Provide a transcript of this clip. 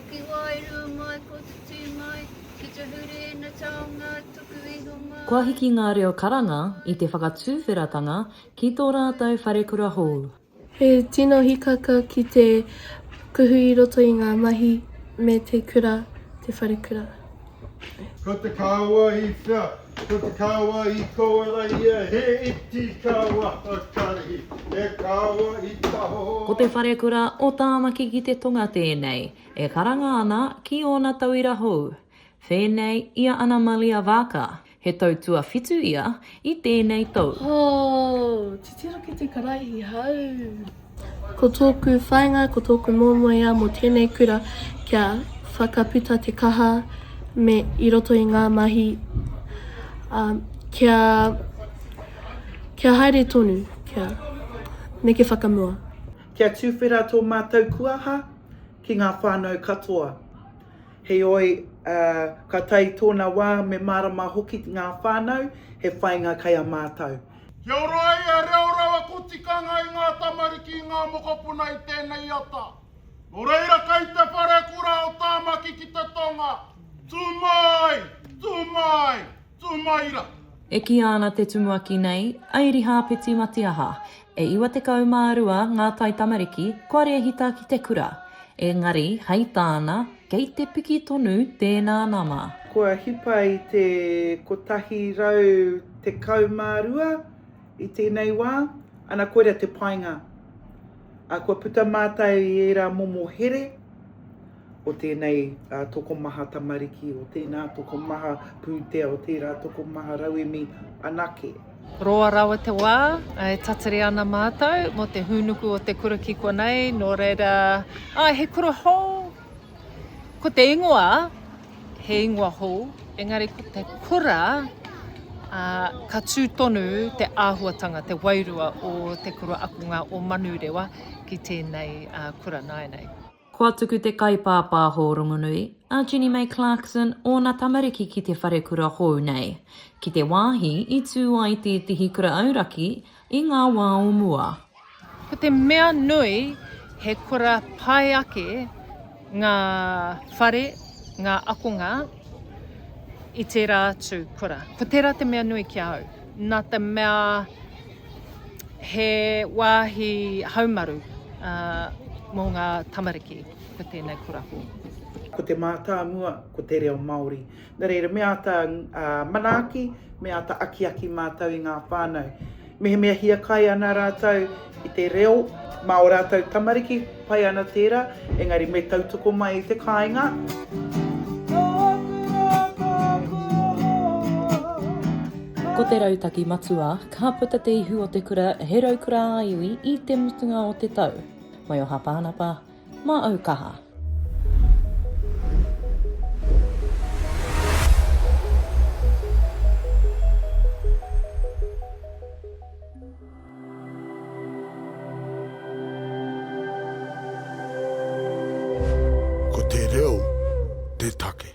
Pukiwairu mai ko te tū mai, ki te huri i na taonga tuku iho mai. Kua hiki ngā reo karanga i te whakatuwheratanga ki tō rātou wharekura hou. He tino hikaka ki te kuhu i roto i ngā mahi me te kura te wharekura. Ko te kawa i whea? Ko te kawa i kowara ia he iti kawa hakarihi, he kawa i taho. Ko te wharekura o Tāmaki ki te Tonga tēnei, e karanga ana ki ōna tauira hou. Whēnei i a Anamalia Vaaka. He tau tuawhitu ia i tēnei tou. Hoo! Titiro ki te Karaiti hau! Ko tōku whāinga, ko tōku moemoeā mō tēnei kura kia whakaputa te kaha me i roto i ngā mahi ā, kia, kia haere tonu, kia neke whakamua. Kia tuwhera tō mātou kuaha ki ngā whānau katoa. Heoi, ā, ka tae i tōna wā me mārama hoki ngā whānau he whainga kei a mātou. Kia ora ai he reo rawako tikanga i ngā tamariki i ngā mokopuna i tēnei ata. Nō reira kei te wharekura o Tāmaki ki te tonga, tū māi! Tū māi! Tūmaira! E kīia ana te tumuaki nei, Airihāpeti Matiaha, e 92 ngā taitamariki kua rēhita ki te kura. Engari, hei tāna, kei te piki tonu tēnā nama. Kua hipa i te 112 i tēnei wā, ana koira te painga. Kua puta mātau i ērā momo here. o tēnei tokomaha tamariki, o tēnā tokomaha pūtea, o tērā tokomaha rauemi anake. Roa rawa te wā e tatari ana mātou mō te hūnuku o te kura ki konei, nō reira, āe, he kura hou, ko te ingoa, he ingoa hou, engari ko te kura, uh, ka tū tonu te āhuatanga, te wairua o te kura akunga o Manurewa ki tēnei uh, kura nāenei. Kua tuku te kaipāpāho rongonui, a Jenny May Clarkson, ōna tamariki ki te wharekura hou nei, ki te wāhi i tū ai tētehi kura auraki i ngā wā o mua. Ko te mea nui, he kura pai ake ngā whare, ngā akonga i tērā atu kura. Ko tērā te mea nui ki a au, nā te mea, he wāhi haumaru mō ngā tamariki ko tēnei korako. Ko te mātāmua, ko te reo Māori. Nō reira, me āta manaaki, me āta akiaki mātou i ngā whānau. Mehemea hiakai ana rātou i te reo mā ō rātou tamariki, Pai ana tērā, engari me tautoko mai i te kāinga. Ko te rautaki matua, ka puta te ihu o te kura he raukura ā-iwi i te mutunga o te tau. Mai o Hapānapa, mā Aukaha. Ko te reo te take.